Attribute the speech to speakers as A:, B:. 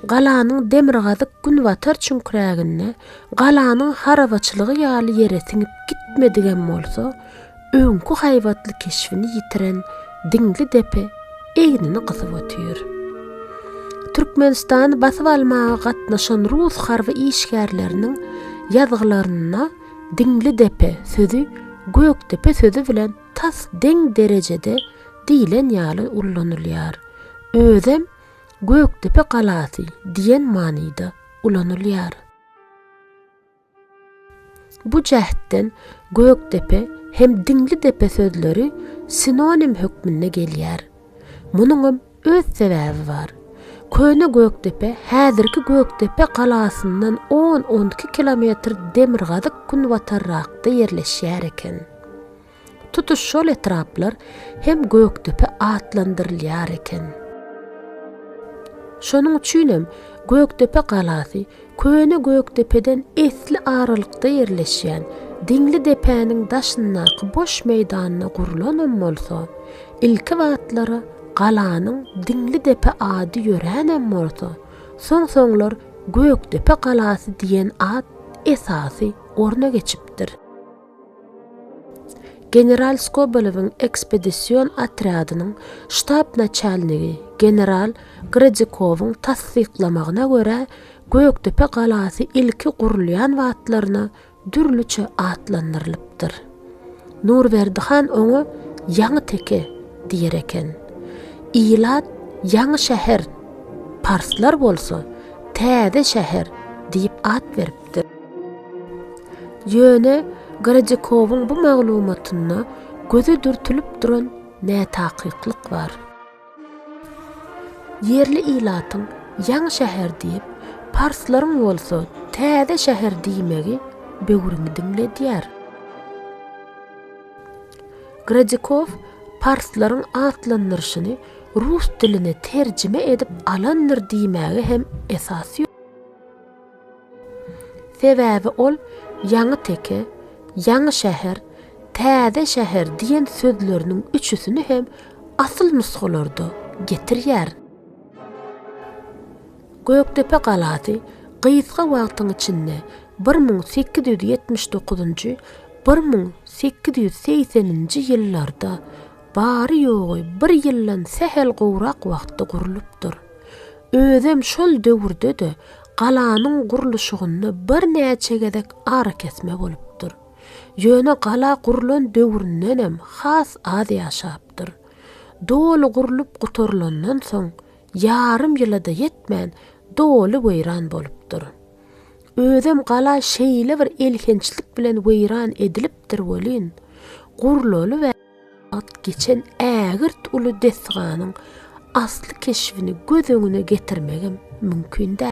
A: Galanyň demirgazyk-günbatar çüňkräginde, galanyň harabaçylygy ýaly ýere siňip gitmedigem bolsa, öňki haýbatly keşbini ýitiren diňli depe egnini gysyp otyr. Türkmenistany basyp almaga gatnaşan rus harby işgärleriniň ýazgylarynda diňli depe sözi gökdepe sözi bilen tas deň derejede diýlen ýaly ullanylýar. Özem Gökdepe galasy diýen manyda ulanylýar. Bu jähtden Gökdepe hem Diňlidepe sözleri sinonim hökmünde gelýär. Munuňam Öz sebäbi bar. Köne Gökdepe häzirki Gökdepe galasyndan on-on iki kilometr demirgazyk-günbatarrakda ýerleşýär eken. Tutuş şol etraplar hem Gökdepe atlandyrylýar eken. Şonuň üçinem Gökdepe galasy Köne Gökdepeden esli aralykda ýerleşýän Diňli depäniň daşyndaky boş meýdanda gurlanam bolsa, ilki wagtlary galanyň Diňli depe ady ýöränem bolsa, soň-soňlar Gökdepe galasy diýen at esasy orna geçipdir. General Skobelewiň ekspedision otrýadynyň ştab naçalnigi general Gradikowyň tassyklamagyna görä, Gökdepe galasy ilki gurulýan wagtlaryna dürlüçe atlandyrylypdyr. Nurberdi han oňa Ýaňy teke diýer eken. Ilat Ýaňy şäher, parslar bolsa Täze şäher diýip at beripdir. edipdir. Ýöne Grajykowyň bu maglumatynda göze dürtülip duran nätakyklyk bar. Ýerli ilatyň Ýaňy şäher diýip, parslaryň bolsa Täze şäher diýmegi böwrümi diňledýär. Grajykow parslaryň atlandyryşyny rus diline terjime edip alandyr diýmäge hem esas ýok. Sebäbi ol ýaňy teke, ýaňy şäher, täze şäher diýen sözleriniň üçüsini hem asyl nusgalarda getirýär. Gökdepe galasy gysga wagtyň içinde bir müň sekiz ýüz ýetmiş dokuzynjy, bir müň sekiz ýüz segseninji ýyllarda bary-ýogy bir ýyldan sähel gowrak wagtda gurlupdyr. Özem şol döwürde-de galanyň gurluşygynda birnäçe gezek arakesme bolupdyr. Ýöne gala gurlan döwründenem has az ýaşapdyr. Doly gurlup gutarylandan soň, ýarym ýyla-da ýetmän, doly weýran bolupdyr. Özem gala şeýle bir elhençlik bilen weýran edilipdir welin, gurlaly we. Wagt geçen ägirt uly desganyň asly keşbini göz öňüne getirmegem mümkin däl.